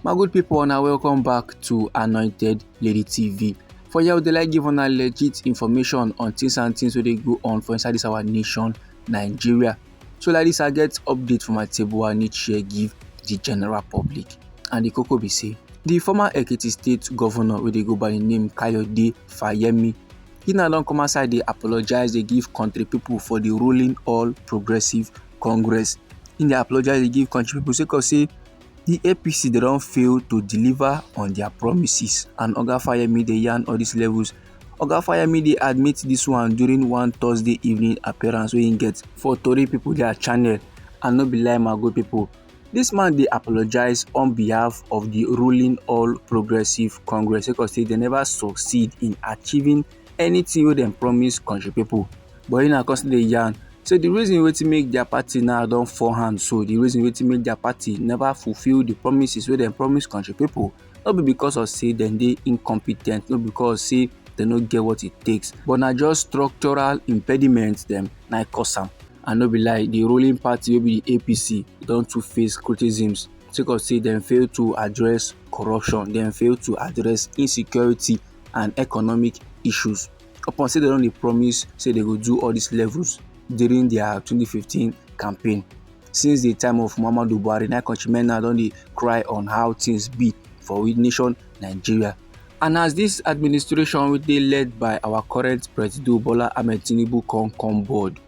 my good people una welcome back to anointed lady tv for here we dey like give una legit information on things and things wey dey go on for inside this our nation nigeria so like this i get update for my table i need share give the general public and the koko be say the former ekiti state governor wey dey go by the name kayode fayemi he now don come outside dey apologize dey give country people for the ruling all progressive congress im dey apologise dey give country pipo sake of say di apc dey don fail to deliver on dia promises and oga fayemi dey yarn all dis levels oga fayemi dey admit dis one during one thursday evening appearance wey im get for tori pipo dia channel and no be lie my good pipo dis man dey apologise on behalf of di ruling all progressives congress sake of say dem neva succeed in achieving anything wey dem promise country people but him na come still dey yarn say the reason wetin make their party now don fall hand so the reason wetin make their party never fulfil the promises wey dem promise country people no be because of say dem dey incompetent no because say dem no get what it takes but na just structural impediments dem na cause am and no be lie the ruling party wey be the apc don too face criticisms sake of say dem fail to address corruption dem fail to address insecurity and economic issues upon say dem don dey promise say dem go do all these levels during their 2015 campaign since the time of muhammadu buhari na countrymen now don dey cry on how things be for we nation nigeria and as this administration wey dey led by our current president bola ahmed tinubu come come board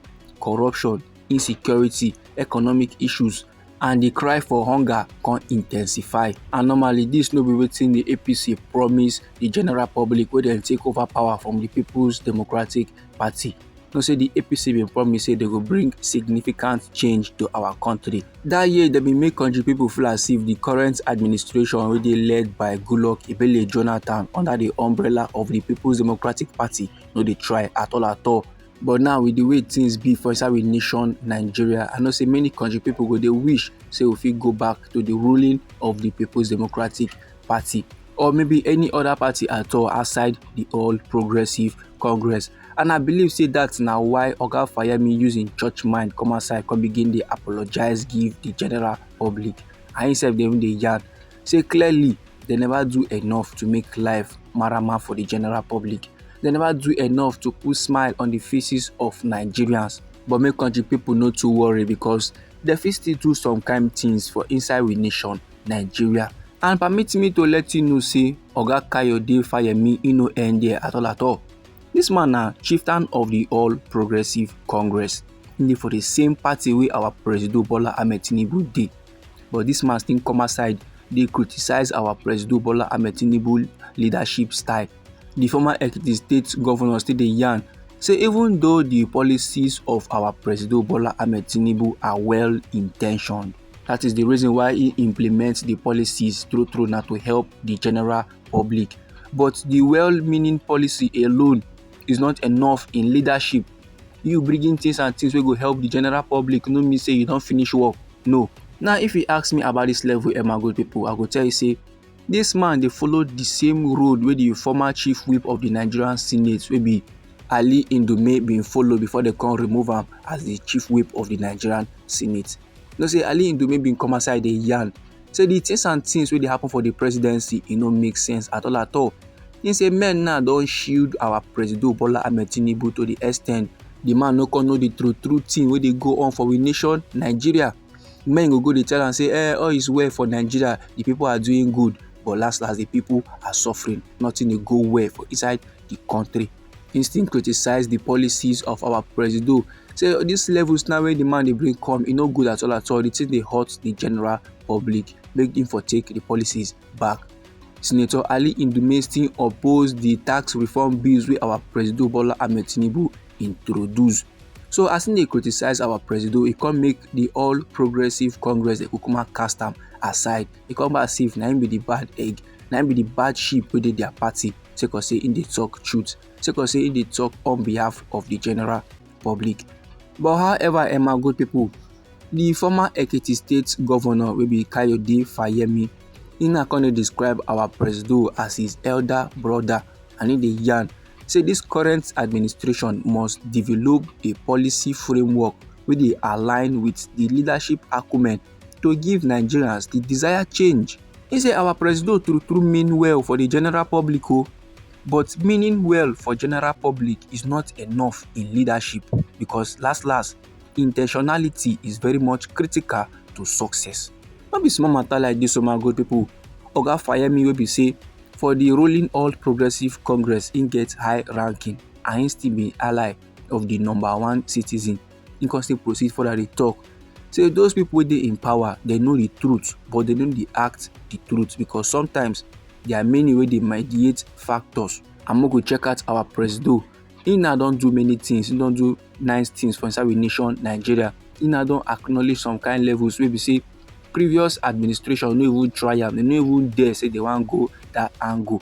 corruption insecurity economic issues and di cry for hunger come intensify and normally dis no be wetin di apc promise di general public wey dem take over power from di peoples democratic party know say di apc bin promise say dem go bring significant change to our country dat year dem bin make country pipo feel as if di current administration wey dey led by goodluck ebele jonathan under di umbrella of di peoples democratic party no dey try at all at all But now with the way things be for inside we nation Nigeria, I know say many country people go dey wish say we fit go back to the ruling of the People's Democratic Party or maybe any other party at all outside the All Progressive Congress. And I believe say that now why Oga Fayemi using church mind come outside come begin dey apologize give the general public. I himself dey even dey yarn say clearly dem never do enough to make life marama for the general public dem never do enough to put smile on the faces of nigerians but make country people no too worry because dem fit still do some kind things for inside we nation nigeria and permit me to let you know say oga kayode fayemi e no end there at all at all this man na chieftain of the all progressive congress e dey for the same party wey our presido bola ahmed tinubu dey But dis man still come outside dey criticize our Presido Bola Ahmed Tinubu leadership style. Di former Ekiti state governor still dey yarn say even though di policies of our Presido Bola Ahmed Tinubu are well intentioned, that is the reason why he implements the policies through through na to help the general public. But the well-meaning policy alone is not enough in leadership You bringing things and things wey go help the general public no mean say you don finish work. No. Now if you ask me about this level Emma Gold people, I go tell you say this man dey follow the same road wey the former chief whip of the Nigerian Senate wey be Ali Ndume bin follow before dem come remove am as the chief whip of the Nigerian Senate. You know say Ali Ndume bin come outside dey yarn say the things and things wey dey happen for the presidency e no make sense at all at all. He say men now don shield our presido Bola Ahmed Tinubu to the extent the man no come know the true true thing wey dey go on for we nation Nigeria. Men go go dey tell am say eh all is well for Nigeria the people are doing good but last last the people are suffering nothing dey go well for inside the country. He still criticise the policies of our presido say this levels now when the man they bring come e no good at all at all the thing they hurt the general public make him for take the policies back. Senator Ali Indume still oppose the tax reform bills wey our presido Bola Ahmed Tinubu introduce. So as they criticize our presido, he come make the All Progressive Congress, the Kukuma cast aside. He come back as if na him be the bad egg na im be the bad sheep wey dey their party sake of say im dey talk truth sake of say im dey talk on behalf of the general public but however eh my good people the former ekiti state governor wey be kayode fayemi he na come dey describe our presido as his elder brother and he dey yarn say this current administration must develop a policy framework wey dey align with the leadership acumen to give nigerians di desired change e say our presido true true mean well for di general public o but meaning well for general public is not enough in leadership because last last intentionality is very much critical to success no be small matter like dis o my good people oga fayemi wey be say for di ruling all progressives congress im get high ranking and im still be ally of di number one citizen he come still proceed further dey talk say those people wey dey in power they know the truth but they no dey act the truth because sometimes there are many wey dey mediate factors and make we check out our presido he now don do many things he don do nice things for inside we nation nigeria he now don acknowledge some kind levels wey be say previous administration no even try am they no even dare say they wan go that angle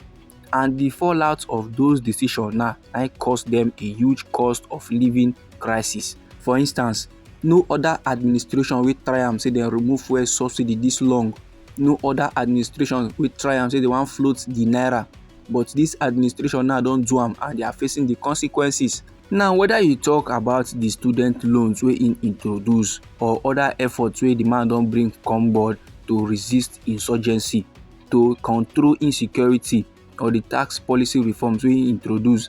and the fallout of those decisions now I cause them a huge cost of living crisis. For instance, no other administration wey try am say dem remove fuel subsidy this long no other administration wey try am say they wan float the naira but this administration now don do am and they are facing the consequences. now whether you talk about the student loans wey im introduce or other efforts wey the man don bring come board to resist insurgency to control insecurity or the tax policy reforms wey he introduce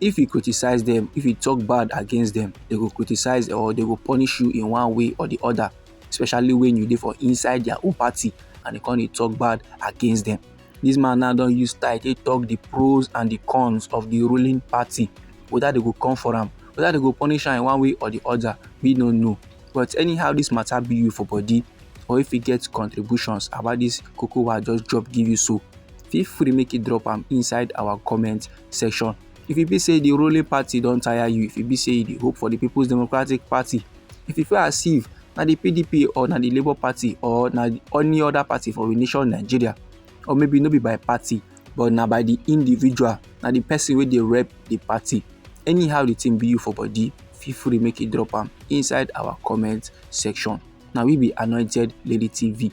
if you criticize them if you talk bad against them they go criticize or they go punish you in one way or the other especially when you dey for inside their own party and they come dey talk bad against them this man now don use style take talk the pros and the cons of the ruling party whether they go come for am whether they go punish am in one way or the other we no know but anyhow this matter be you for body or if you get contributions about this koko wa just drop give you so feel free make you drop am inside our comment section if e be say the ruling party don tire you if e be say you dey hope for the people's democratic party if e feel as if na the pdp or na the labour party or na any other party for we nation nigeria or maybe no be by party but na by the individual na the person wey dey rep the party anyhow the thing be you for body feel free make you drop am inside our comment section na we be anointed lady tv